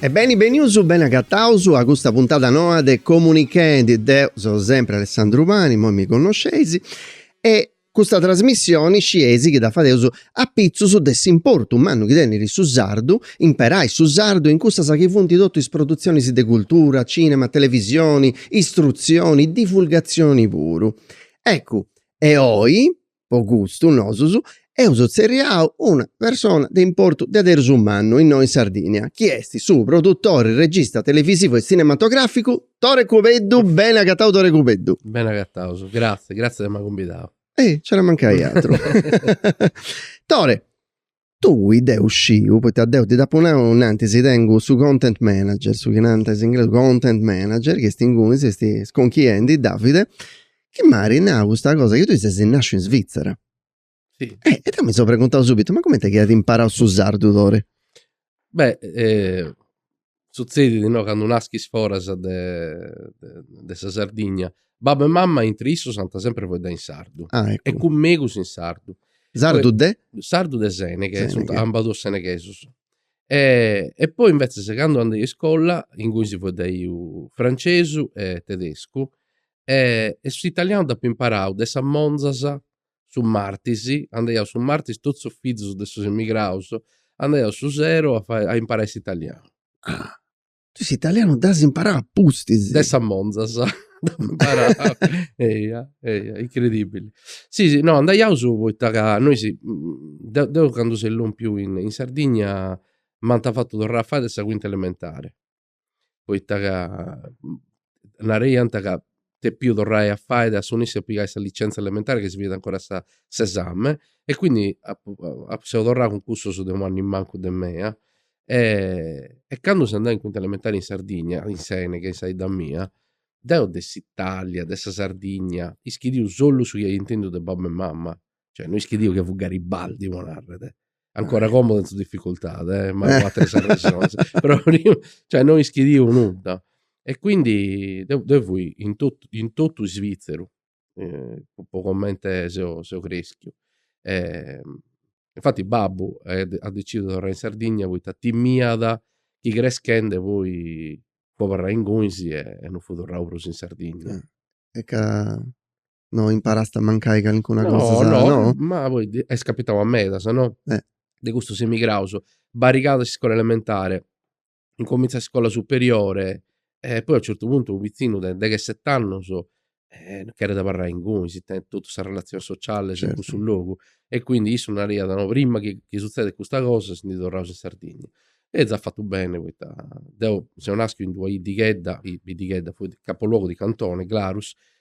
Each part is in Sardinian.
E beni benius, beni agataus a custa puntada noa de Comunichendi, deu seu sempri Alessandru Pani, imoi mi connosceis, e custa trasmissioni scieis chi dda fadeus apitzus de s'importu mannu chi tenit su sardu, imperai su sardu in cussas chi funt totu is produtzionis de cultura, cinema, televisioni, istrutzioni, divulgatzioni puru. Eccu, e oi, po gustu nosus, eus tzerriau una persona de importu deaderus mannu innoi in Sardigna chi est su produttori, regista televisivu e tzinematograficu Tore Cubeddu, beni agatau Tore Cubeddu. Beni agataus, gratzias, gratzias de m'ai cumbidau. Eh, nci era mancau aturu. Tore, Tui, deu sciu, poita deu ti dd'apu nau innantis, tengu su content manager, su chi narant is inglesus content manager, chi est ingunis, est isconchiendi, Davide, chi m'at nau custa cosa chi tui ses nasciu in Svitzera. Si. E deu mi seu preguntau subitu, ma cumenti chi at imparau su sardu Tore? Beh Sutzedit no candu naschis foras de de sa Sardigna babbu e mamma intri issus ant sempri faeddau in sardu Ah eccu e cun megus in sardu Sardu de? Sardu de Seneghe Seneghe sunt ambos duos seneghesus e poi inventzeis candu andeu a iscola inguni si faeddaiat francesu e tedescu e s'italianu dd'apu imparau de sas monzas Su martis, andaiaus su martis totus is fizos de sos emigraus, andaiaus su sero a fai a imparai s'italianu. Ah. Tui s'italianu dd'as imparau a pustis. De sas monzas dd'apu imparau. Eia, eia, incredibili. Si, si, no, andaiaus poita ca nois, deu deu candu seu lompiu in Sardigna m'ant fatu torrai a fai de sa cuinta elementari. poita ca nareiant ca depiu torrai a fai, assunessi a pigai sa licenza elementari chi si fadiat ancora sa s'esami e quindi apu apu seu torrau cun cussus de u' annu in mancu de mei e candu seu andau in quinta elementari in Sardigna, in Seneghe, in sa 'idda mia, deu de s'Italia, de sa Sardigna, ischidiu solu su chi iu intendiu de babbu e mama cioè no ischidiu chi fut Garibaldi po narrer, ancora como tenzu difficultade eh, ma apo ateras arresones, però prima, cioè no ischidiu nudda, e quindi deu, deu fui in totu, in totu Svizzeru, po comente seu seu creschiu, e infati babbu at at decidiu de torrai in Sardigna poita timiat chi creschende poi fut abarrau ingunis e no fut torrau prus in Sardigna. E ca no imparast e mancai calincuna cosa no, no, ma est capitau a medas no eh de custus emigraus barrigadas is iscolas elementaris incomintzant is iscolas superioris e poi a u certu puntu unu pizzinu de deghesett'annus no cheret abarrai inguni si tenet totus sas relatzionis socialis in cussu logu e quindi issu nariat no prima chi suzzedet custa cosa si ndi torraus in Sardigna e zat fatu bene poita deu seu naschiu in d'una 'iddighedda, biddighedda, capoluogu di cantone Glarus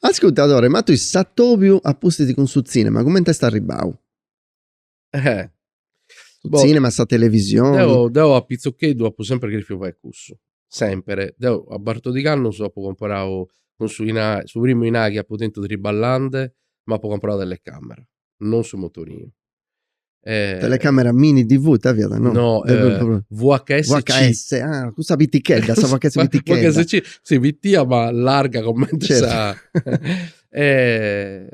Ascurta Tore, ma tui s'atobiu a pustis cun su tzìnema cumenti est arribau? Eh. Su Boh. tzìnema, sa televisioni. Deu, deu a pitzucheddu apu sempri cherifiu fai cussu, sempri. Deu a batordig'annus apu comporau cun su inari, su primu inari chi apu tentu triballandi, m'apu comporau telecamera, non su motorinu. Eh, Telecamera mini DV, ita fiat? No, no eh, VHS. VHS, ah, custa pitichedda, sa VHS pitichedda. VHS C, sì, pitia ma larga comente sa... eh,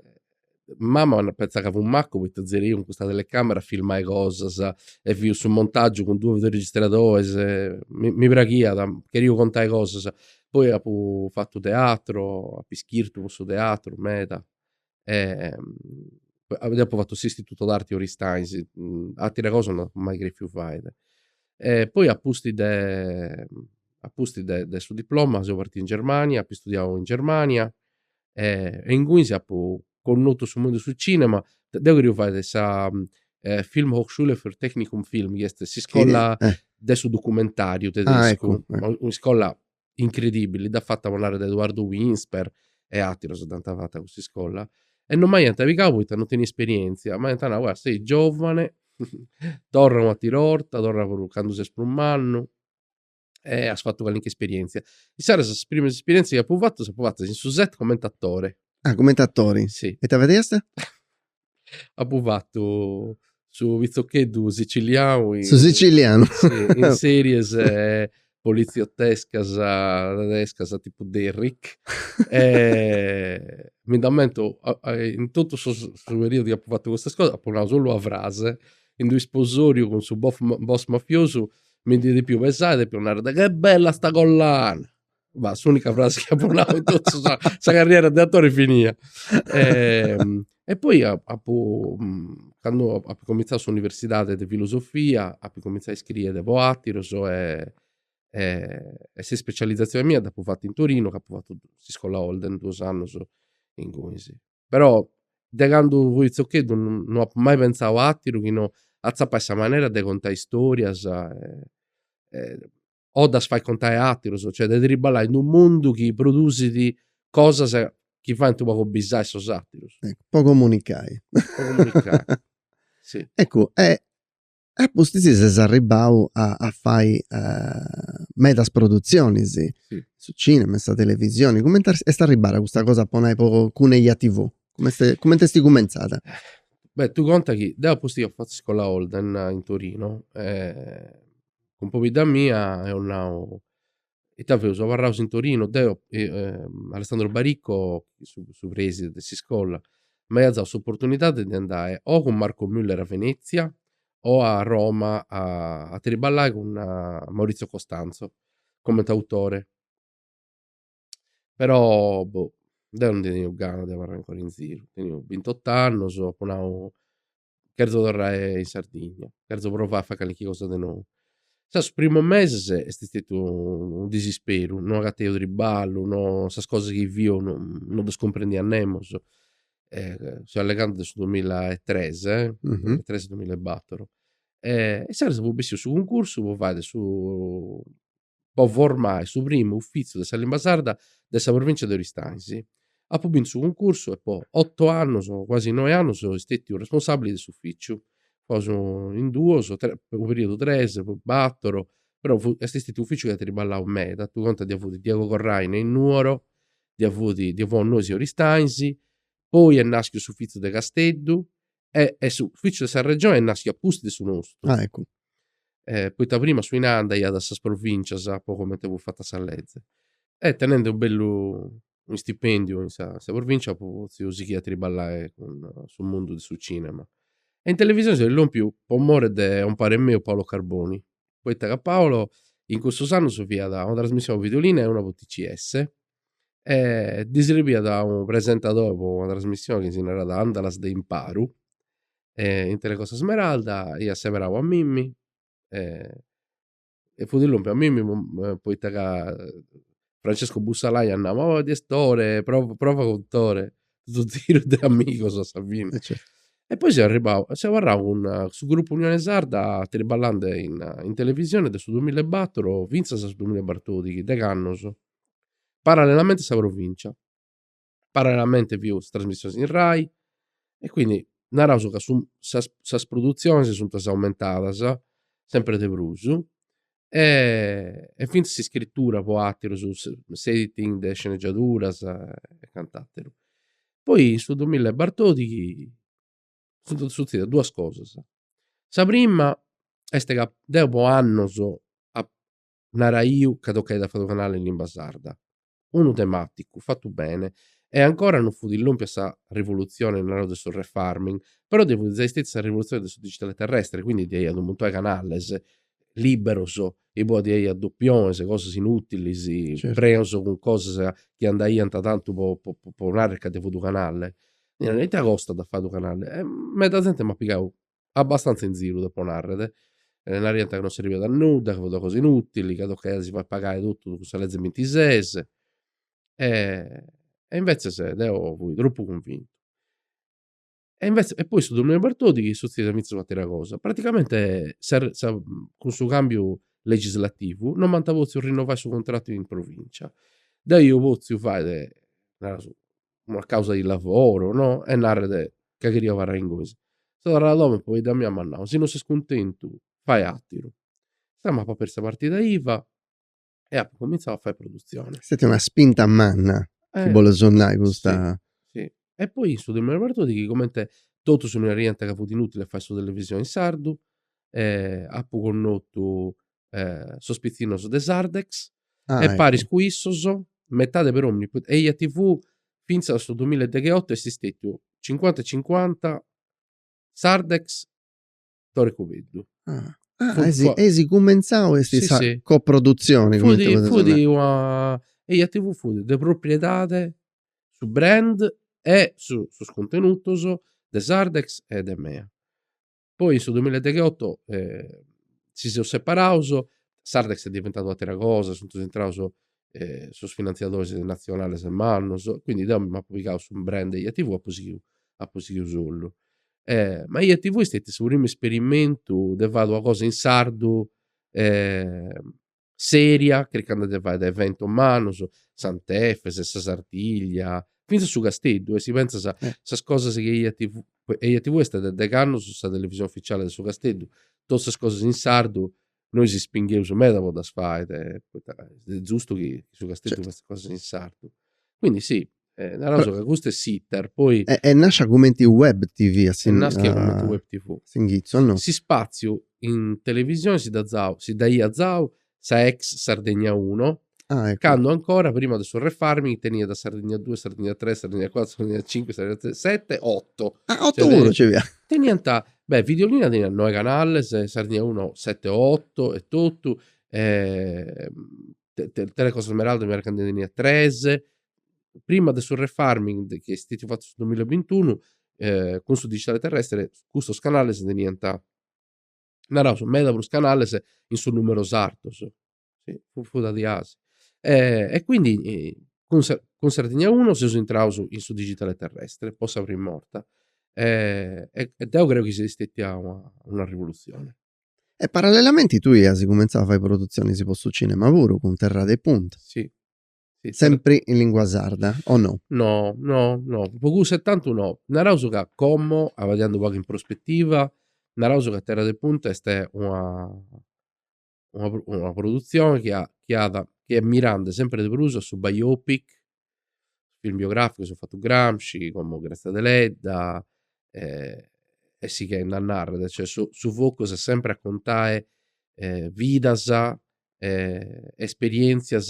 mamma penzàt ca fui maccu poita giai deu cun custa telecamera filmai cosas e faia su montaggiu cun duus videoregistradores e mi, mi praghia cheria contai cosas poi apu fatto teatro apu ischirtu po su teatro meda deu apo fatu s'istituto d'arti in Aristanis, atera cosa no apu mai cherfiu faide. E poi a pustis de a pustis de de su diploma seu partiu in Germania, apu istudiau in Germania e ingunis apu connotu su mundu 'e su cinema, deu cheriu fai sa film hochschule für Fernsehen und Film chi est s'iscola de su documentariu tedescu, un'iscola incredibili, dd'at fata po narrer Edoardo Winspeare e atteros dd'ant fata cussa iscola e non m'aiant pigau poita non tenia esperientzia, m'aiant nau, ah sei giovane, torra un'attera 'orta, torra puru candu ses prus mannu e as fatu calincuna esperientzia. Insaras is primas esperientzias chi apu fatu ddas apu fatas in su set comente attore. Ah comente attori? Sì. E ita fadiast? Apu fatu su pitzocheddu sicilianu in. Su sicilianu. In series poliziottescas tedescas tipu Derrick, mi nd'ammento in totu su periudu chi apu fatu custas cosas apu nau solu una frase, in d'u' isposoriu cun su boss mafiosu mi ndi depiu pesai e depiu narrede, che bella sta collana. Ma s'unica frase chi apu nau in totu sa sa carriera de attori, finia. E, e poi a- apu, candu apu comintzau s'universidadi de filosofia, apu comintzau a iscriere po attirus e e sa ispecializzazione mia dd'apu fata in Torino, ca apu fatu s'iscola Holden duus annus ingunis. Però de candu fui pitzocheddu no apu mai pentzau a attiru chi no a tzapai sa manera de contai storias e o ddas fai contai a aterus, cioè de triballai in d'unu mundu chi produsit cosas chi faint u' pagu bisai sos aterus. Po comunicai. Po comunicai. Si. Eccu e e apustis ses arribbau a a fai medas produtzionis. Si. In su cinema, in sa televisioni, cumenti est arribada custa cosa po nai po cun Eja TV? Cum'est cumenti esti cumentzada? Beh, tu conta chi deu apustis apu fattu iscola Holden in Torino e cun pobidda mia eus nau, ita feus, abarraus in Torinu, deu, Alessandro Baricco su preside de s'iscola, m'aiat dau s'opportunidadi de andai o cun Marco Muller a Venezia o a Roma a triballai cun Maurizio Costanzo coment' autore, però boh deu no ddu teniu gana de abarrai ancora in ziru, teniu bintot'annus, apu nau cherzo torrai in Sardigna, cherzo provai a fai calchi cosa de nou. Insaras is primos meses est stetiu unu disisperu, no agateu triballu, no sas cosas chi fiu no no ddas cumprendia nemos. seu allegande de su duamilla e tres, duamilla e tres, duamilla e bator. E insaras fut bessiu su cuncursu po fàidi su po formai su primu ufìtziu de sa limba sarda de sa provìntzia de Oristànxi. Apu bintu su cuncursu e po oto annus, cuasi noi annus, seu stètiu responsàbili de s'ufìciu. Fuaus in duos, po u' perìodu tres, poi bator, però fut, est stètiu un'ufìciu chi at triballau meda, tui conta ddui fut Diego Corraine in Nuoro, ddui fut, ddui fuaus nois in Oristànxi, poi est nàschiu s'ufìtziu de Casteddu E, e s'ufficiu de sa Regione est naschiu a pustis de su nostru. Ah, eccu. Eh, poita prima su inai andaiat a sas provincias po comente fut fata sa leze. E tenende unu bellu istipendiu in sa provincia potziu sighi a triballai cun su mundu de su cinema. E in televisioni seu lompiu po more de gopare meu Paolo Carboni, poita ca Paolo in cussus annus fiat una trasmissioni po videolina e una po TCS, e ddi srebiat unu presentadori po una trasmissioni chi si naràt Àndalas de imparu e in Tele Costa Smeralda iat seberau a mimi e fut lòmpiu a mimi poita ca Francesco Bussalai iat nau ma boh, Tore, prova prova cun Tore su ziru de amigos a sa fini e poi seu arribau seu abarrau cun su grupu Unione Sarda triballende in televisione de su duamilla e batoro finzas a su duamilla e batòrdichi deghi annus parallelamente a sa Provincia, parallelamente fiu is trasmissionis in Rai e quindi naraus ca su sas sas produtzionis sunt aumentadas sempre de prus e e finzas s'iscritura po aterus s'editing de sceneggiaduras e cant'ateru. Poi in su duamilla e batòrdichi funt sutzidas duas cosas, sa prima est ca deu po annus naraiu ca tocaiat a fai unu canale in limba sarda. Unu tematicu fatu bene e ancora no fut illompiu a sa rivolutzione, naraus, de su refarming, però ddoi fut zai stetiu sa rivolutzione de su digitale terrestre, quindi ddoi iat unu muntone 'e canales liberos, inue ddoi iat dopiones, cosas inutilis, preus cun cosas chi andaiant tantu po po narrer ca ddoi fut u canale. Ita costat a fai unu canale? E meda zente m'at pigau abbastantza in ziru depo narrer, naraiant ca non serbiat a nudda, chi fut una cosa inutili, ca tocaiat si fai pagai totu cun sa lezze bintises e e invetzes deo fui tropu cunvintu e invetzes e poi su dominiu de Bertoldi chi sutziat invetzes un'atera cosa, praticamente sa sa cun su cambiu legislativu non m'ant potziu rinnovai su contrattu in provincia, deu iu potziu fai, naraus una causa di lavoro, no? E narrer ca cherio abarrai ingunis. Seu torrau a domo e pobidda mia m'at nau, si no ses cuntentu, fai àteru. Deu m'apu apertu sa partida iva e apu cumintzau a fai produtzioni. Est stètia una spinta manna, si boles nai, custa. Si. E poi in su tempus de Bartodichi, comente totus mi naraiant ca fut inutile fai su televisioni in sardu, apu connotu eh, sos pitzinnos de Sardex, Ah, e ecco. paris cun issos, metade per omini, put- EjaTV fintzas a su 2018 est stetiu 50 e 50 Sardex Tore Cubeddu. Ah, ah, Fut esi, co- esi cumentzau est Sì, sa sì. coproduzioni. Fut, comente potete fut nai. una EjaTV fut de propriedade su brand e su- sos contenutos de Sardex e de mea. Poi in su duamilla e degheoto si seus separaus, Sardex est diventadu u' atera cosa, sunt intraus sos finantziadoris natzionales mannos, quindi deu mi m'apu pigau su brand EjaTV e apu sighiu apu sighiu solu. Ma EjaTV est stetiu su primu isperimentu de fai una cosa in sardu sèria, chircande de fai eventos mannos, Sant'Efis, sa Sartiglia, fintzas su Casteddu, e si pentzas sas cosas chi EjaTV, EjaTV est de degh'annos sa televisione ufficiale de su Casteddu, totu sas cosas in sardu nois ispingheus meda po ddas fai, poita est zustu chi su Casteddu fatziat cosas in sardu. Quindi sì, Eh, naraus ca custu est s'iter, poi... E, est nascia cumenti web tv, a sin... Naschia a, cumenti web tv. S'inghitzu, no? S'ispaziu in televisioni si dd'at zau, si dd'aiat zau sa ex Sardegna 1, Ah, ecco. cando ancora, prima de su refarming, teniat Sardegna 2, Sardegna 3, Sardegna 4, Sardegna 5, Sardegna 7, 8. Ah, otto Cioè, puru ci via. Teniant, beh, Videolina teniat 9 canales, Sardegna 1, 7 o 8 e totu, e, Telecostasmeralda mi pare ca nde teniat tres, prima de su refarming chi est stetiu fatu su duamilla e bintunu, cun su digitale terrestre custus canales teniant, naraus, meda prus canales in su numeru sardos, funt diaus. E quindi cun sa cun Sardegna Uno seus intraus in su digitale terrestre po sa primu 'orta e deu creu chi siat stetia una rivoluzioni E parallelamenti tui ias cumentzau a fai produtzionis po su cinema puru cun Terra de Punta. Si. Sempri in lingua sarda o no? No, no, no, po cussu etantu no. Naraus ca como, abadiandu u pagu in prospettiva, naraus ca Terra de Punta est una una produtzioni chi at chi at chi est mirandi sempri de prus a su biopic film biogràficos eus fatu Gramsci como Grazia Deledda e e sighende a narrer cioè su su focus est sempre a contae vidas e esperientzias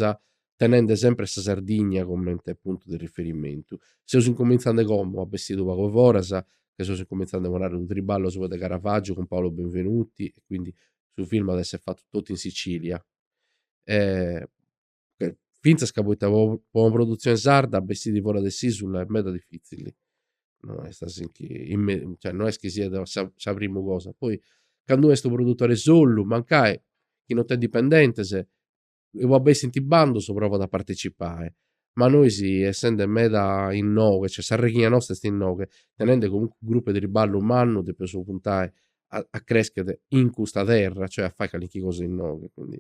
tenende sempre sa Sardigna comente puntu de riferimentu seus incomintzende como a bessire unu pagu a foras ca seus incomintzende po narrer unu triballu asuba de Caravaggiu cun Paolo Benvenuti e quindi su film at esser fatu totu in Sicilia fintzas ca poita po una produtzioni sarda bessiri fora de s'isula est meda difitzili no est a si nchi cioè no est chi siat sa primu cosa poi candu est unu produtori solu mancai chi no tenit dipendentes e una bessint bandus provant a partecipai ma noisi essende meda innoga cioè sa raighina nosta est innoga tenende comunque unu gruppu 'e triballu mannu depeus puntai a creschere in custa terra cioè a fai calinchi cosa innoga quindi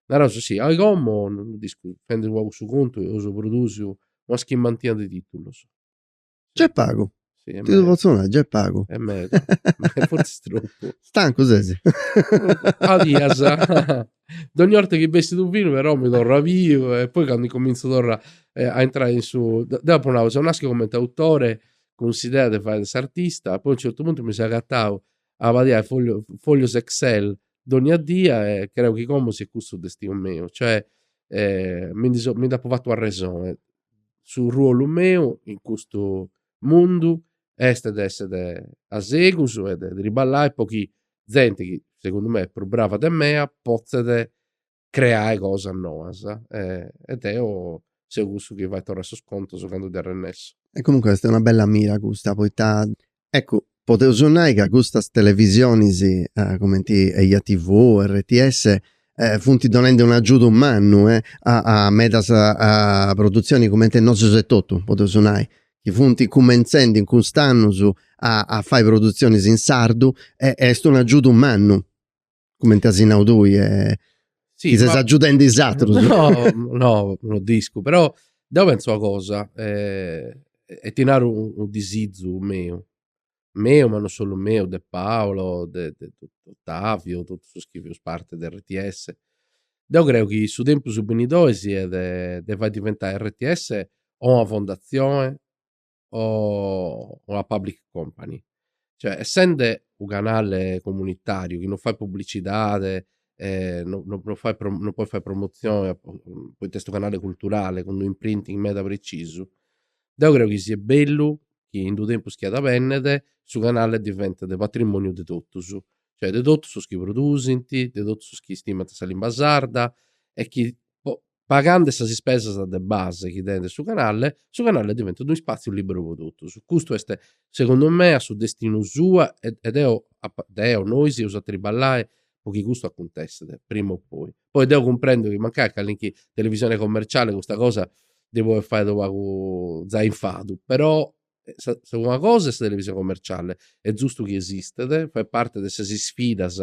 Nareus si, oi como no lu discu, fendu pagu su contu eus produsiu una sessantina de titulus. Nc'est pagu, ti ddu potzu nai, nc'est pagu. Est meda, fortzis tropu. Stancu ses? A bias. Dogni 'orta chi bessit unu filmu però mi torru a biu e poi candu incomintzu a torrai a intrai in su. Deu apu nau seu naschiu comenti autore cun s'idea de fai s'artista, poi a un certu puntu mi seu agatau abadiai foglios excel dogna die e creu chi como siat cussu su destinu meu, cioè mi ndi so mi nd'apu fatu arrexoni, su ruolu meu in custu mundu est de esser a segus e de triballai po chi zenti chi segundu mei est prus brava de mea potzet creai cosas noas e deo seu cussu chi fait torrai sos contos candu ddi arrennessu. E comunque est una bella mira custa poita eccu podeus nai ca custas televisionis cumenti Eja TV, RTS funt donendi un agiudu mannu a medas produtzioni cumenti e nosus etotu podeus nai chi funt cumentzendi in cust'annus a fai produtzionis in sardu e est un agiudu mannu. cumenti as nau tui est si chi ses agiudendi is atrus. No, no, no discu, però deu pentzu una cosa e ti naru unu disizu meu, meu ma non solu meu, de Paolo, de Ottavio, totus is chi fius parti de rts, deu creu chi su tempus benidori siat de fai diventai rts o una fondatzioni o una public company. Cioè, essende unu canale comunitariu chi non fait pubblicidade e non non non fait pro non podit fai promozione poita est unu canale culturale cun d'unu imprinting meda precisu, deu creu chi siat bellu chi in d'unu tempus chi at a benner su canale diventet patrimoniu de totus, cioè de totus is chi produsint, de totus is chi istimant sa limba sarda e chi po pagande sas ispesas de base chi tenit su canale, su canale diventat unu ispàtziu lìberu pro totus. Custu est, segundu mea, su destinu sua e e deo apa deo, nois seus a triballai po chi custu acuntessit, prima o poi. Poi deu cumprendu chi mancai a calinchi televisione commerciale custa cosa ddi podit fai unu pagu zai infadu, però una cosa est sa televisione commerciale est zustu chi esistet fait parte de sas isfidas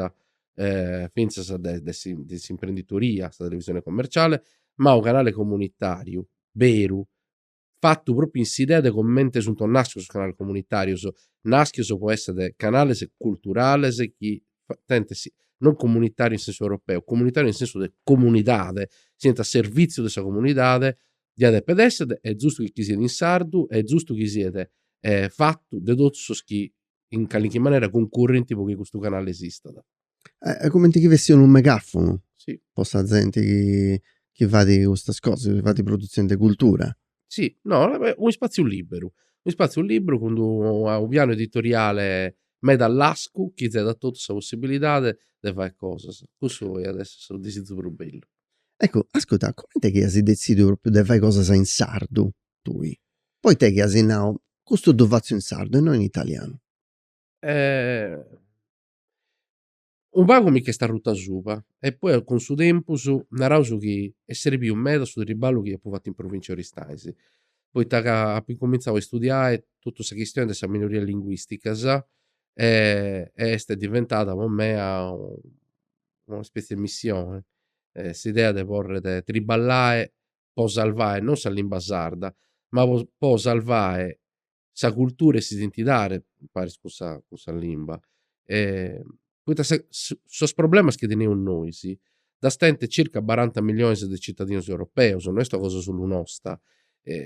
finzas de de s'imprenditorìa sa televisione commerciale ma unu canale comunitariu beru fatu propriu in s'idea de comente sunt naschius is canales comunitarius naschius po esser canales culturales chi tenent non comunitariu in sensu europeo comunitariu in sensu de comunidade siant a servìtziu de sa comunidade Diat deper esser est zustu chi siat in sardu est zustu chi siet fatu de totus sos chi in calinchi manera cuncurrint pro chi custu canale esistat. Cumenti chi fessit unu megafunu po sa zenti chi fait custas cosas, chi fait produtzioni de cultura. Si, no, unu ispatziu liberu, unu ispatziu liberu cun unu pianu editoriale meda lascu chi zeat a totus sa possibilidadi de fai cosas. Cussu iat essi su disizu prus bellu. Eccu, ascurta, comente chi as detzidiu propriu de fai cosas in sardu tui? Poita chi as nau, custu ddu fatzu in sardu e no in italianu? Unu pagu mi ch'est arrutu asuba e poi cun su tempus narauus chi est srebiu meda su triballu chi apu fatu in Provincia 'e Aristanis, poita ca apu incumintzau a istudiai totu sa chistioni de sas minorias linguisticas e est diventada po mea una spetzie de missione, s'idea de poder triballai po salvai non sa limba sarda ma po salvai sa cultura e s'identidade imparis cun sa cun sa limba poita sa sos problemas chi teneus nois ddas tenint circa baranta milliones de citadinos europeos no est una cosa solu nosta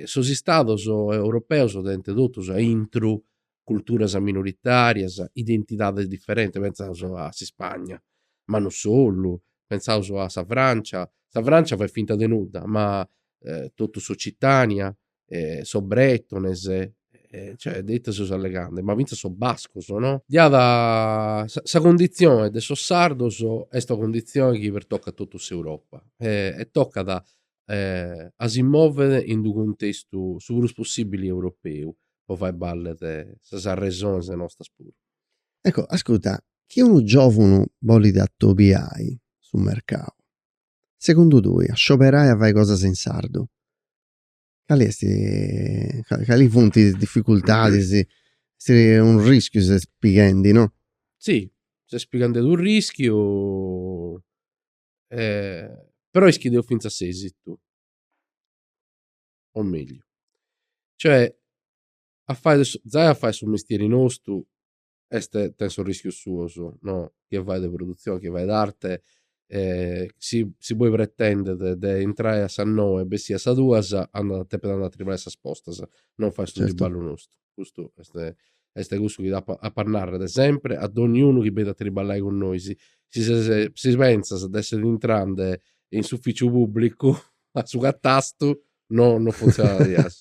sos istados europeos tenint totus aintru culturas minoritarias, identidades diferentes, pentzaus a s'Ispagna, ma no solu, pentzaus a sa Francia, sa Francia fait finta de nudda, ma totu s'Occitania, sos bretones, cioè de ite seus allegande, ma fintzas sos bascos no, duncas sa cunditzioe de sos sardos est una cunditzioe chi pertocat totu s'Europa e tocat a si mòvere in d'unu cuntestu su prus possìbili europeu, po fai ballet sas arresones nostras puru. Ecco, ascurta, chi unu giòvunu bolit atobiai su mercau, segundu tui, a scioberai a fai cosas in sardu, cali est, cali funt is dificultadis, est unu rischiu ses pighendi, no? Si, ses pighendi unu rischiu Eh, però ischis, deu fintzas s'esitu, o megliu, cioè a fai, zai a fai su mestieri nostu est, tenet sos rischios suos, no, chie fait de produtzioni, chie fait arte, eh, si, si poi pretendet de intrai a sas noe e bessiri a sas duas, andat, depet andai a triballai a sas postas, non fait su triballu nostu. custu est est cussu chi apo a narrer sempre a dogniunu chi benit a triballai cun nois, si ses si pentzas de esser intrande in s'ufficiu publicu a su catastu no no funtzionat.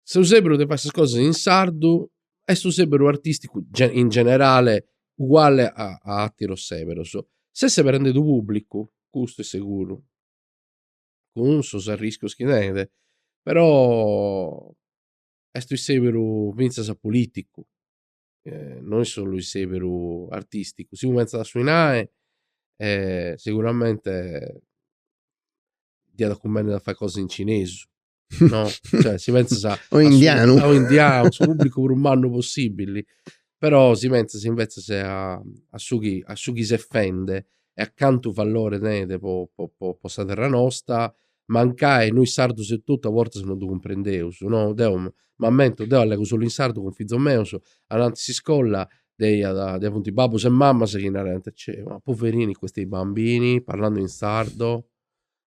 Su seberu de fai sas cosas in sardu est unu seberu artisticu in generale uguale a a atteros seberos, ses seberende unu publicu custu est seguru cun sos arrischios chi tenet, però est isseberu finzas politicu, no est solu isseberu artisticu, si pentzas a su 'inai seguramente diat a cumbenner a fai cosas in cinesu no, cioè si pentzas a o indianu o indianu su publicu prus mannu possibili, però si pentzas invecias a su chi a su chi ses fende e a cantu vallore tenet po po po sa terra nosta, mancai nois sardus etotu a bortas no ddu cumprendeus, no, deu m'ammento, deu allegu solu in sardu cun fizos meus, ananti s'iscolla ddoe iat, ddoe funt is babbus e mamas chi naraiant, cioè, ma poverini questi bambini, parlano in sardo,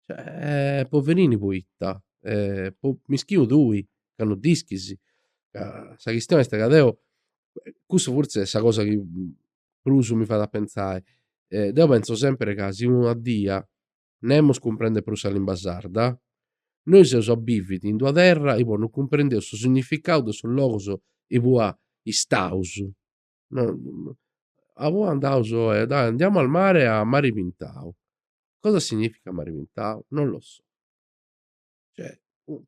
cioè, poverini poita, mischinu tui ca no dd'ischis, ca sa chistioni est ca deu, cussa fortzis est sa cosa chi prus mi fait a pentzai, deu pentzu sempiri ca si una die nemus cumprendit prus sa limba sarda, nois eus a biviri in d'una terra ipoa no cumprendeus su significau de sos logus ipoa istaus, ipoa andaus oe, dai andiamo al mare a mari pintau, cosa significa mari pintau, non lo so. Cioè,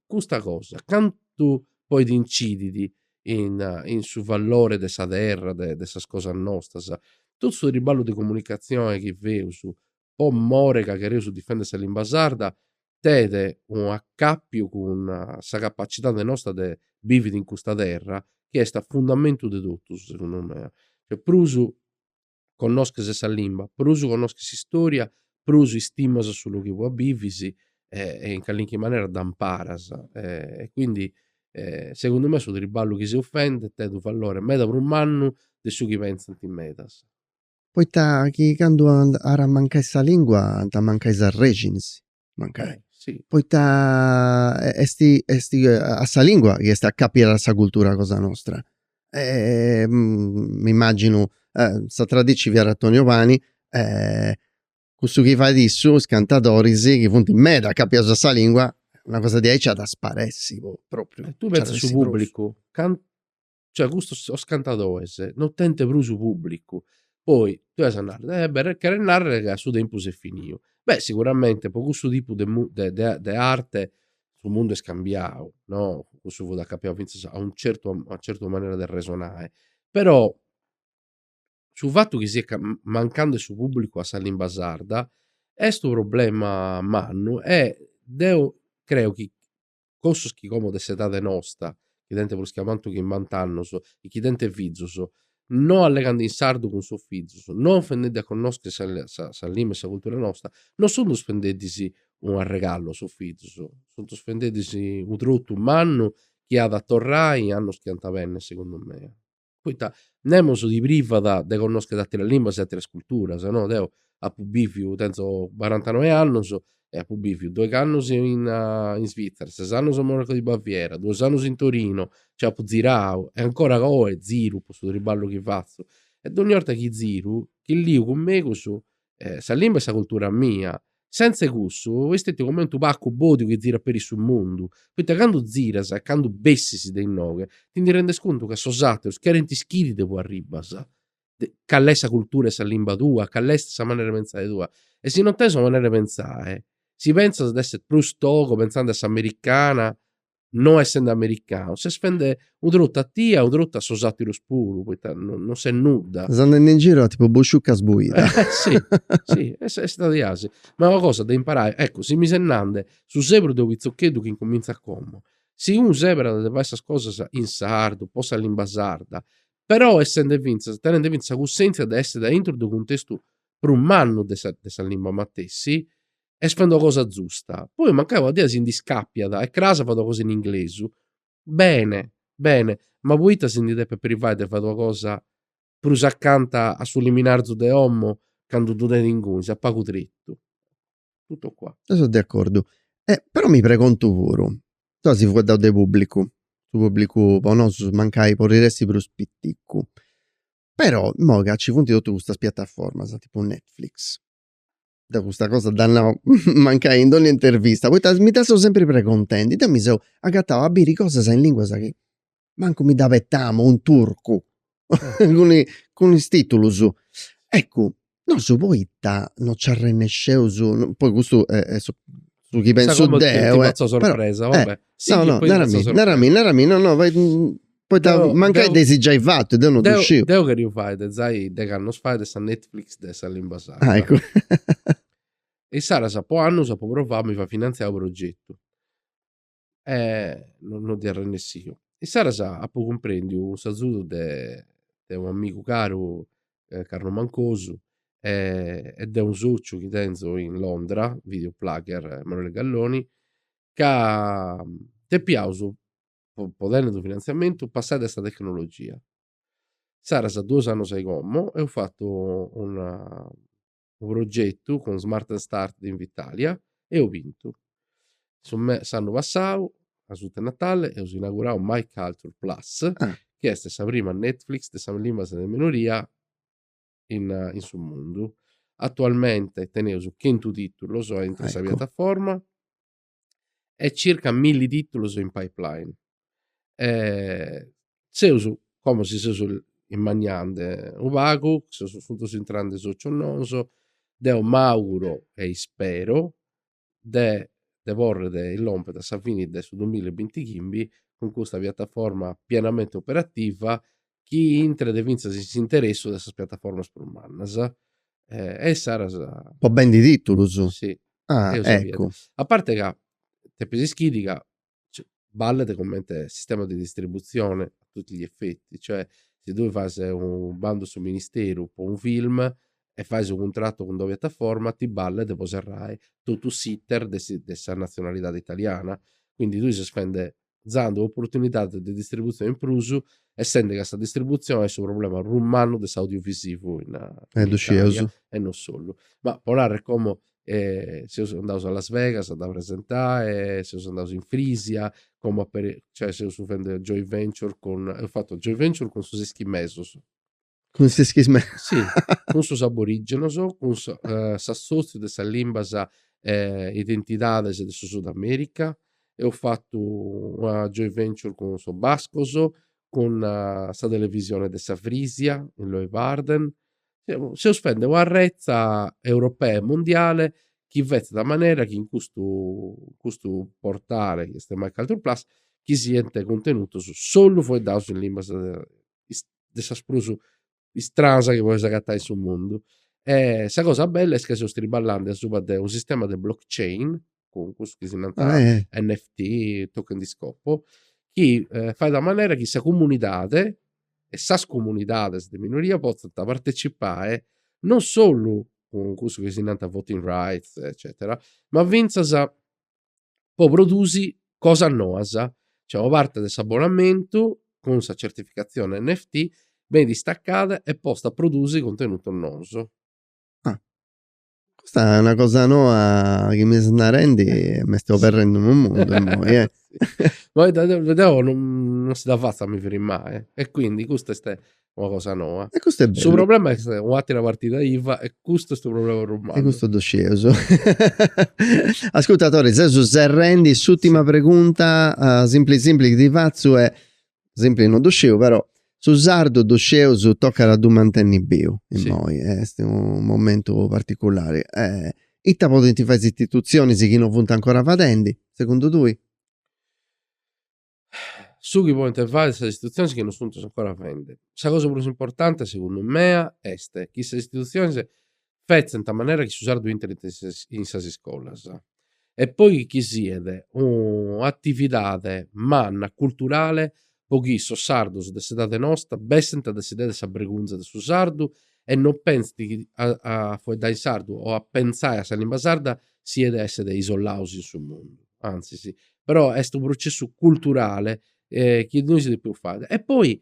custa cosa, cantu podet incidi in in su vallore de sa terra, de de sas cosas nostras. Totu su triballu de comunicatzione chi feus po more ca cherreus difendi sa limba sarda tenet u' accapiu cun sa capacitade nosta de bividi in custa terra chi est a fundamentu de totus, segundu mei. Prus connosches sa limba, prus connosches s'istòria, prus istimas su logu inue bivis e e in calinchi manera dd'amparas e quindi segundu mei su triballu chi seus fendi tenit unu valore meda prus mannu de su chi pentzant medas. Poita chi candu at a mancai sa lingua ant a mancai is arrexines. mancai, poita est est a sa lingua chi est acapiada a sa cultura cosa nostra e m'immaginu sa tradici- fiat Antonio Pani e cussu chi fait issu is cantadoris chi funt meda acapiaus a sa lingua una cosa diaici nci at a sparessi po propriu. E tui pentzas su pubblicu cantu cioè custos sos cantadoes non tenent prus publicu, poi tue as a narrer, beh cheret narrer ca su tempus est finiu, beh siguramente po cussu tipu de de arte su mundu est cambiau no, cussu fut acapiau finzas a unu certu a una certu manera de resonai, però su fatu chi siat mancande su publicu a sa limba sarda est unu problema mannu e deu creu chi cussus chi como de s'edade nosta, chi tenent prus che a mancu chimbant'annus e chi tenent fizus, no allegant in sardu cun sos fizus, no fendendi a connoscher sa sa limba e sa cultura nosta, no suntu fendeddis unu arregalu a sos fizus, suntu fendeddis unu trotu mannu chi at a torrai in annus chi ant a benner segundu mei. poita nemos ti privat de connoschere ateras limbas e ateras culturas, no. Deu apu biviu, tenzo barantanoe annus e apu biviu doighi annus in in Svizzera, ses annus a Monaco di Baviera, duos annus in Torino, nci apu zirau e ancora oe ziru po su triballu chi fatzu e dogni 'orta chi ziru nche liu cun megus sa limba e sa cultura mia. Senza 'e cussu iu istetiu comente u pacu bodiu chi zirat peri su mundu, poita candu ziras e candu bessis de inoghe ti ndi rendes contu ca sos aterus cherint ischiri de ue arribas, call'est sa cultura e sa limba tua, call'est sa manera 'e pentzai tua. E si non tenes una manera 'e pentzai, si pentzas de esser prus togo, pentzandi a s'americana, no essende americanu, ses fende u trotu a tia, u trotu a sos aterus puru, poita non ses nudda. Ses andende in giru a tipu busciucca sbuida. si, si, est istadi asi. Ma est una cosa de imparai, eccu, si mi ses nande, su sebru de u pitzocheddu chi incumintzat como, si unu seberat de fai sas cosas in sardu, po sa limba sarda, però essende fintzas, tenende fintzas sa cussentzia de esser a intru de u cuntestu prus mannu de sa limba matessi, est faghende una cosa zusta. Poi mancai una dì si ndi scàpiat e cras fait una cosa in inglesu, bene, bene, ma poita si ndi depet privai de fai una cosa prus acanta a su liminarzu de omo candu ddu tenit inguni, s'at pagu tritu. Tutto qua. Deu seu de acordu. Però mi pregontu puru, ita si fueddaus de pubblicu, su pubblicu po nosu mancai podit essi prus piticu, però imoi ca ci funt totus custas piattaformas, tipu Netflix, deu custa cosa dda nau mancai in dogna intervista, poita mi dda seu sempri preguntendi, deu mi seu agatau a biri cosas in linguas chi mancu mi dd'abetamu, in turcu, cun is sutatitulus. Eccu, nosu poita no nci arrennesceus, poi custu est su su chi pensu deu, però, eh, no no, narami, narami, narami, no no Poita mancai dd'eis giai fatu, deu non ddu sciu. deu cherìu fai de zai de candu fai sa Netflix de sa limba sarda. Ah, eccu. E issaras po annus apu provau, a mi fai finantziai u' progetu. E no no ddoi seu arrennessiu. Issaras apu cumprendiu cun s'azudu de de u' amigu caru, Carlo Mancosu, e e de unu sociu chi tenzu in Londra, Video Plugger, Emanuele Galloni, ca depiaus po tenni su finantziamentu passai dae sa tecnologia. Insaras duos annos a i como eus fatu una unu progetu cun Smart and Start de Invitalia e eus bintu. Su me s'annu passau, asuta 'e Natale, eus inaugurau My Culture Plus chi est sa prima Netflix de sas limbas de minoria in in su mundu. Atualmente teneus chentu titulos a intre sa piataforma e circa milli tìtulos in pipeline. Seus, como si seus immaniende unu pagu, seus sunt intrende socios noos, deu m'auguro e ispero de de porrere lompere a sa fini de su duamilla e binti chimbi cun custa piattaforma pienamente operativa chi intret fintzas in s'interessu de sas piataformas prus mannas e issaras. Po bendi titulus? Si. Ah, eccu. A parte ca depis ischiri ca ballet comente sistema de distribuzione a tutti gli effetti, cioè si tui fais unu bandu a su ministeru po unu film e fais unu cuntratu cun d'una piataforma ti ballet po serrai totu s'iter de sa nazionalidadi italiana, quindi tui ses fende zande un'oportunidade de distributzione in prus, essende ca sa distributzione est su problema prus mannu de s'audiovisivu in Italia e non solu. Ma pro narrer como seus andaus a Las Vegas a dda presentai, seus andaus in Frisia, como aperit, cioè seus fendende joint venture cun, eus fatu joint venture cun sos ischimesos, Cun s'ischis meda. Si, cun sos aborígenos, cun s'assòtziu de sas limbas e identidades de su Sud Amèrica. Eus fatu una joint venture cun sos bascos, cun sa televisione de sa Frisia in Leeuwarden. Seus fende una retza europea e mundiale chi fetzat a manera chi in custu in custu portale chi est MyCulturePlus chi siant cuntenutos solu faeddados in limbas de sas prus istranas chi podeis agatai in su mundu. E sa cosa bella est ca seus triballandi asuba de unu sistema de blockchain, cun cussus chi si nant NFT, token di scopo, chi fait a manera chi sa comunidadi e sas comunidadis de minoria potzant partecipai non solu cun cussu chi si nant voting rights eccetera, ma fintzas po produsi cosas noas. Cioè una parte de s'abbonamentu cun sa certificatzione NFT benit istaccada e posta a produsi cuntenutos nous. Ah. Custa est una cosa noa chi mi ses narendi e m'est oberrendi unu mundu immoi eh. Deu non si dda fatzu a mi firimai e quindi custa est una cosa noa. E custu est bellu. Su problema est un'atera partida iva e custu est su problema prus mannu. E custu ddu scieus. Ascurta Tore, seus serrendi s'ùtima pregunta, simpli simpli chi ti fatzu e simpli no ddu sciu però, su sardu ddu scieus tocat a ddu mantenni biu immoi, est unu momentu particulari. Ita podint fai is istitutzionis chi no funt ancora fadendi, segundu tui? su chi podent fai sas istitutziones chi non sunt ancora fende. Sa cosa prus importante, segundu mea, est chi sas istitutziones fetzent a manera chi su sardu intret in sas iscolas e poi chi siat un'atividade manna culturale po chi sos sardos de s'edade nosta bessent a desidere sa bregunza de su sardu e non pensent a faeddare in sardu o a pentzare a sa limba sarda siat esser isolaus in su mundu, antzis, però est unu processu culturale chi nois depeus fai e poi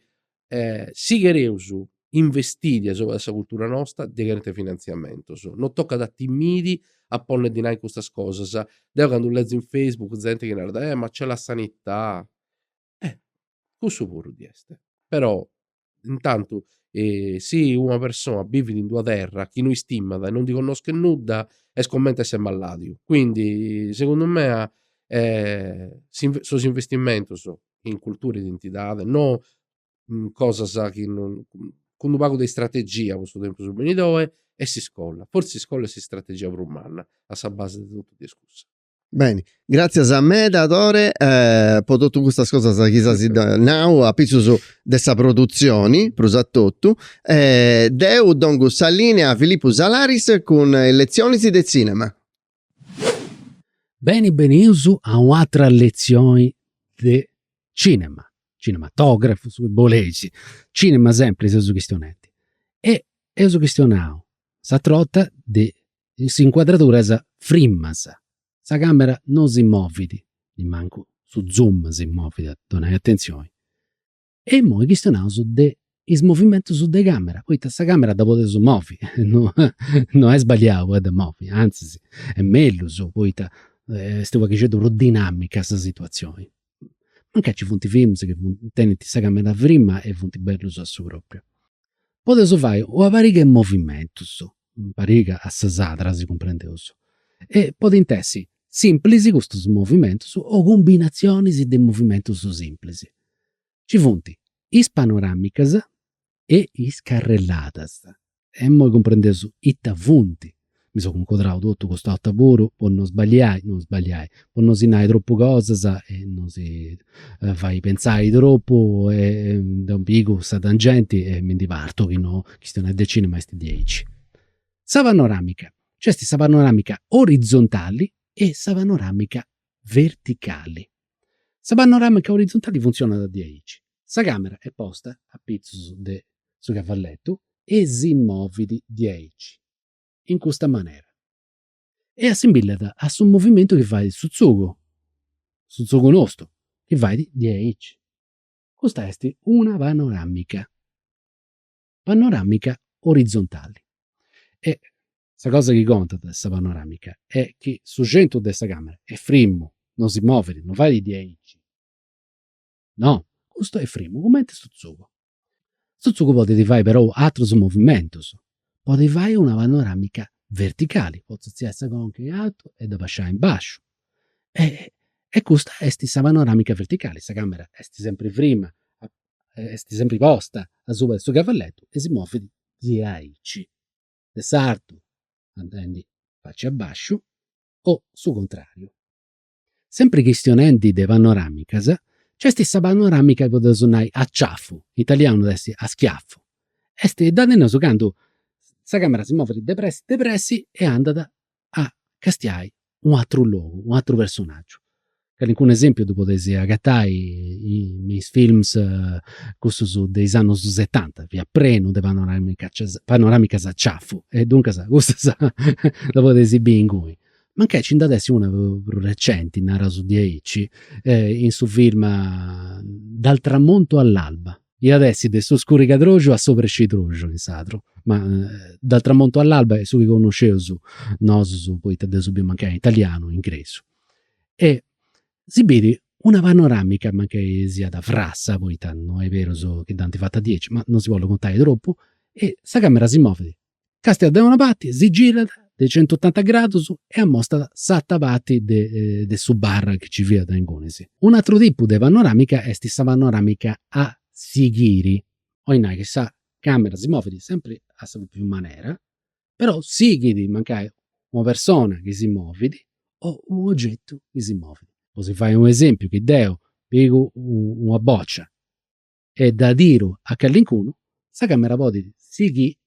si chereus investiri asuba de sa cultura nosta ddi cherint finantziamentus, non tocat a timiri a ponni a ddi nai custas cosas, deu candu lezu in Facebook zente chi narat, eh ma c'è la sanità, Eh cussu puru ddi est. Però intantu si una persona bivit in d'una terra chi no istimat e non ndi connoschet nudda est comente esser malladiu, quindi segundu mea sos investimentos in cultura e identidade non cosas chi non, cun d'unu pagu de istrategia po su tempus benidoe e s'iscola, fortzis s'iscola est s'istrategia prus manna a sa base de totu ddi est cussa Beni, gratzias meda Tore po totu custas cosas chi s'as giai nau apitzus de sa produtzioni prus a totu. Deu dongu sa lìnea a Filippu Salaris cun is letzionis de cinema. Beni bènnius a u'atra letzioni de cinema, cinematografu, su chi boleis, cinema sempri seus chistionendi. E eus chistionau s'atr'orta de in s'incuadraduras frimmas. Sa càmera no si movit, nimancu su zoom si movit, donai atentzioni. E imoi chistionaus de is movimentus de càmera, poita sa càmera dda podeus movi, no est sbagliau a dda movi, antzis est mellus poita est unu pagheddu prus dinàmica sa situatzioni. mancai ci funt films chi tenint sa camera frima e funt bellus a su propriu. Podeus fai una pariga 'e movimentus, pariga assoras ddas cumprendeus, e podint essi simplis custus movimentus o cumbinatzionis de movimentus simplis. Ci funt is panoramicas, e is carrelladas. Imoi cumprendeus ita funt. Mi seu cuncodrau totu cust'orta puru po no sballiai, no sballiai, po no si nai tropu cosas e no si fai pentzai tropu e deu pigu sa tangenti e mi ndi partu chi no, chistionai de cinema est diaici. Sa panoramica, nc'est sa panoramica orizzontali e sa panoramica verticali. Sa panoramica orizzontali funtzionat diaici. Sa càmera est posta a pitzus de su cavalletu e si movit diaici, in custa manera, e assimbillat a su movimentu chi fait su tzugu, su tzugu nostru, chi fait diaici. Custa est una panoramica. panoramica orizzontali e sa cosa chi contat de sa panoramica est chi su centru de sa camera est frimu no si movit no fait diaici no custu est frimu cumenti su tzugu su tzugu podit fai perou atrus movimentus podit fai una panoramica verticali potzu artziai sa conca in altu e dda abasciai in basciu e custa est sa panoramica verticali sa camera est sempri frima est sempri posta asuba de su cavalletu e si movit diaici, de s'artu, andendi faci a basciu o su contrariu. Sempri chistionendi de panoramicas, nc'est sa panoramica chi podeus nai a ciafu, in italianu at essi a schiaffu, est dda teneus candu sa camera si movit depressi depressi e andat a castiai u atru logu, u atru personaggiu. Calincunu esempiu ddu podeis agatai me is films cussus de is annus setanta, fiat prenu de panoramicas panoramicas a ciafu e duncas cussas dda podeis biri inguni. Mancai nci nd'at essi una prus recenti, naraus diaici, in su film Dal tramonto all'alba Iat essi de su scurigadroxu a s'obrescidroxu in sardu, ma dal tramontu all'alba est su chi connosceus nosus poita dd'eus biu mancai in italianu o ingresu. E si biri una panoramica mancai siat frassa poita no est berus chi dd'ant fata diaici, ma non si bollu contai tropu, e sa camera si movit Càstiat de una parti si girat de centotanta gradus e amostat s'atera parti de su bar chi nci fiat inguni. Unu ateru tipu de panoràmica est sa panoràmica a sighiri, 'olit nai chi sa càmera si movit sempri a sa pròpriu manera, però sighit mancai una persona chi si movit o u' ogetu chi si movit. Po si fai u' esempiu chi deu pigu una bòcia e dda tiru a callincunu, sa càmera podit sighiri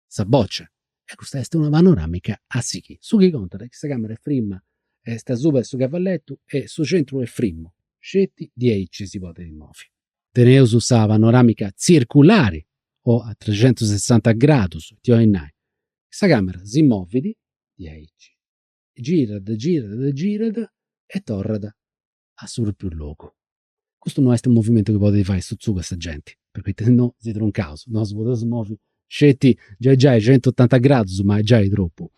sa bòcia. E custa est una panoràmica a sighiri. Su chi contat est chi sa càmera est frimma, est asuba de su cavalletu e su centru est frimmu, sceti diaici si podit movi. Teneus sa panoràmica tzirculari o a trexentusessanta gradus, ita 'olit nai? Sa càmera si movit diaici, girat, girat, girat e torrat a su propriu logu. Custu no est unu movimentu chi podit fai su tzugu 'e sa genti, poita si no si truncaus, nosu podeus movi sceti giai giai centotanta gradus, ma est giai tropu.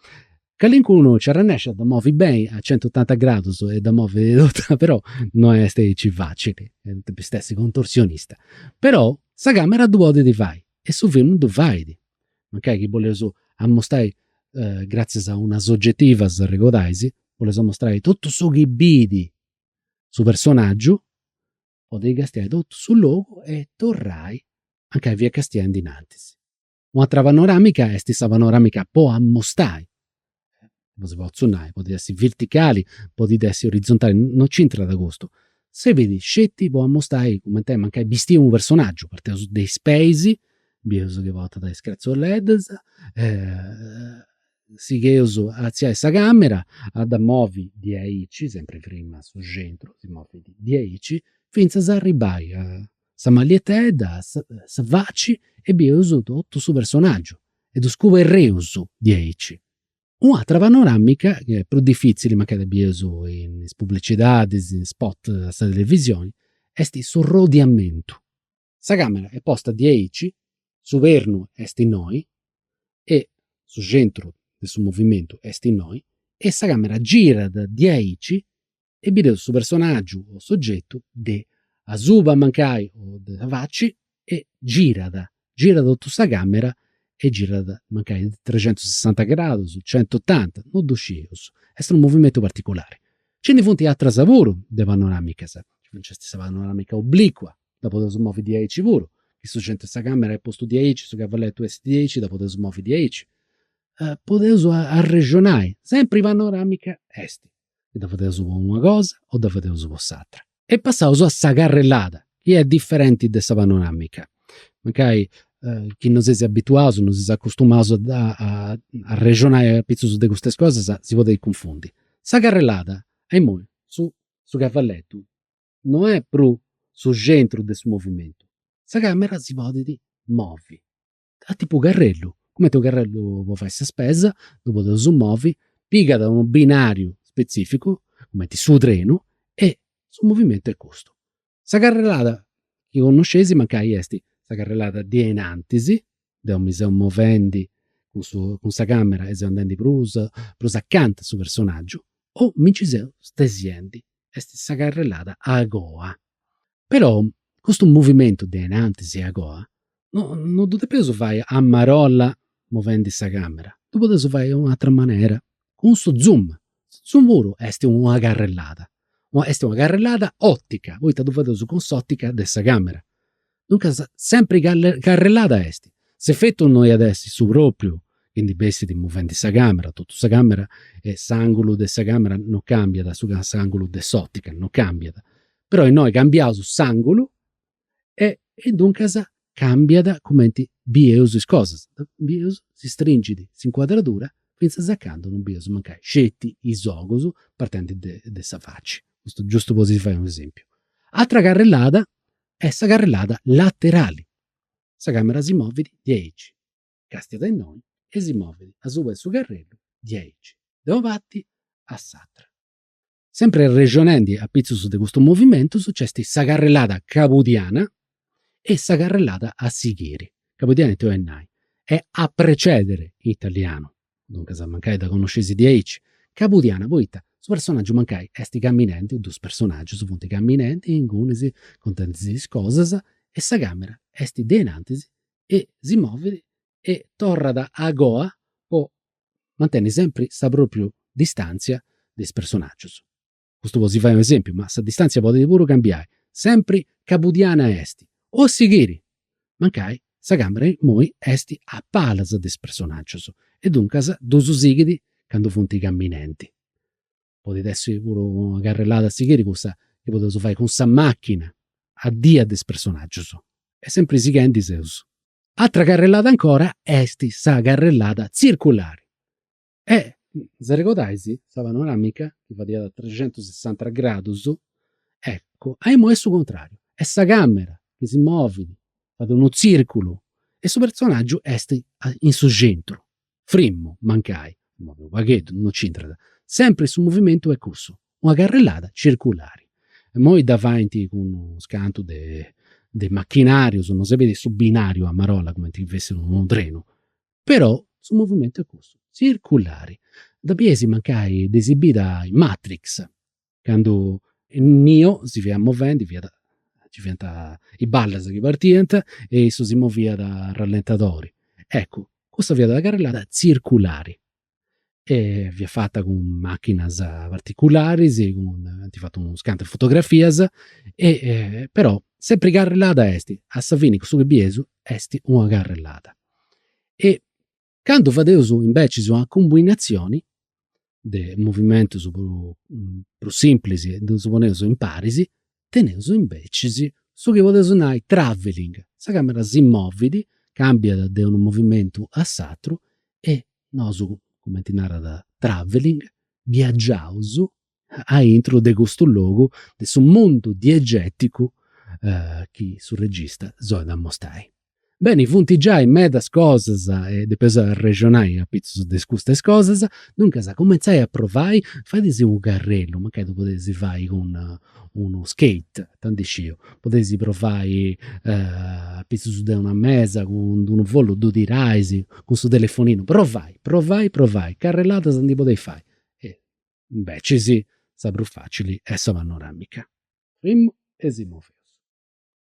Calincunu nci arrennexit a dda movi beni a centotanta gradus e dda movit totu, però no est aici facili, depist essi contorsionista. Però sa camera ddu podit fai e su filmu ddu fait mancai chi boleus amostai gratzias a una sogetiva, s'arregodais, boleus amostai totu su chi bidi su personaggiu podit castiai totu su logu e torrai anca fiat castiendi innantis. U' atera panoramica est sa panoramica po amostai non si potzu nai, podit essi verticali, podit essi orizontali, non centrat custu, servit sceti po ammustai cumenti est mancai bistiu unu personaggiu, parteus de is peis, bius chi portat is cratzoleddus, sigheus a artziai sa camera, a dda movi diaici, sempri frimmu su centru, si movit diaici, fintzas a arribai a sa mallietedda, sa faci e bius totu su personaggiu e ddus coberreus diaici. U' atra panoramica, prus diffitzili mancai dda bieis in is publicidadis, in is spot de sa televisioni, est su arrodiamentu. Sa camera est posta diaici, su pernu est innoi e su centru de su movimentu est innoi e sa camera girat diaici e bideus su personàgiu o sogetu de asuba mancai o de sa faci e girat, girat totu sa càmera e girat mancai trexentusessanta gradus, centotanta, non ddu scius, est unu movimentu particulari. Nci ndi funt atras puru de panoràmicas, nc'est sa panoràmica obliqua, dda podeus movi diaici puru, chi su centru 'e sa càmera est postu diaici, su cavalletu est diaici, dda podeus movi diaici. Podeus arrexonai, sempri panoràmica est. dda fadeus po una cosa o dda fadeus po s'atra. E passaus a sa carrellada, chi est diferenti de sa panoramica. Mancai chi non seis abituaus, non seis acustumaus a arrexonai apitzus de custas cosas, si podit cunfundi. Sa carrellada, imoi, su su cavalletu no est prus su centru de su movimentu, sa camera si podit movi a tipu carrellu, cumenti unu carrellu po fai sa spesa, ddu podeus movi, pigat unu binariu spetzificu, cumenti su trenu, e su movimentu est custu. Sa carrellada chi connosceis mancai est sa carrellada de a innantis, deu mi seu movendi cun su cun sa camera e seu andendi prus prus acanta a su personaggiu o mi nci seu stesiendi, est sa carrellada a goa Però custu movimentu de a innantis e agoa no no ddu depeus fai a marolla movendi sa càmera, ddu podeus fai in una atra manera, cun su zoom. Su zoom puru est una carrellada, est una carrellada òtica, poita ddu fadeus cun s'òtica de sa càmera. Duncas sempri carrellada est. S'efetu no iat essi su propriu chi ndi bessit movendi sa camera, totu sa camera e s'angulu de sa camera no cambiat, s'angulu de s'otica no cambiat, però innoi cambiaus s'angulu e e duncas cambiat cumenti bieus is cosas, bieus si stringit s'incuadradura finzas a candu no bieus mancai sceti is ogus partendi de sa faci. Custu giustu po si fai un'esempiu. Ateras carrellada e sa carrellada laterali. Sa càmera si movit diaici, càstiat de innoi e si movit asuba de su carrellu diaici, de una parti a s'atra. Sempri arrexonendi apitzus de custus movimentus nc'est sa carrellada cabudiana e sa carrellada a sighiri, cabudiana iat a nai, e a precedere in italianu, Duncas mancai dda connosceis diaici cabudiana poita su personagiu mancai est camminendi, dus personagius funt camminendi ingunis contendi-sì is cosas e sa camera est de innantis e si movit e torrat a goa po mantenni sempri sa propriu distantzia de is personagius. custu po si fai un'esempiu, ma sa distantzia podit puru cambiai, sempri cabudiana est, o sighiri! Mancai sa càmera imoi est a palas de is personàgius e duncas ddus sighit candu funt caminendi. Podit essi puru una carrellada a sighiri cussa chi podeus fai cun sa màchina a dias de is personàgius e sempri sighendi seus. Atra carrellada ancora est sa carrellada tzirculari, E s'arregodais sa panoramica chi fadiat a trexentusessanta gradus, eccu, a imui est su contrariu, est sa camera chi si movit, fait unu tzirculu e su personaggiu est in su centru, frimmu, mancai si movit u' pagheddu, non c'entrat, sempri su movimentu est cussu, una carrellada tzirculari. Imui dda faint cun unus cantu de machinarius, no serbit su binariu a marolla cumenti chi fessit unu trenu, Però su movimentu est cussu, tzirculari. Dda bieis mancai dd'eis bida in Matrix, candu Neo si fiat movendi, fiat, nci fiant is ballas chi partiant e issu si moviat a rallentadori. Eccu, cussa fiat una carrellada tzirculari. e fiat fata cun machinas particularis, ant fatu unas cantu de fotografias e però sempri carrellada est, a sa fini cussu chi bieus est una carrellada. E candu fadeus imbecis una cumbinazioni de movimentus prus simplis e ddus poneus imparis, Teneus imbecis su chi podeus nai travelling, sa càmera si movit, càmbiat de unu movimentu a s'atru e nosu, cumenti narat travelling, viagiaus aintru de custu logu, de su mundu diegèticu chi su regista si bolit amostai Beni, funt giai medas cosas e depeus arrexonai apitzus de custas cosas. Duncas cumentzai a provai, fadeis u' carrellu, mancai ddu podeis fai cun unu skate, ita ndi sciu. Podeis provai apitzus de una mesa cun d'unu follu ddu tirais, cun su telefoninu, provai, provai, provai, carrelladas ndi podeis fai. Imbecis sa prus facili est sa panoramica. Frimmu e si moveus.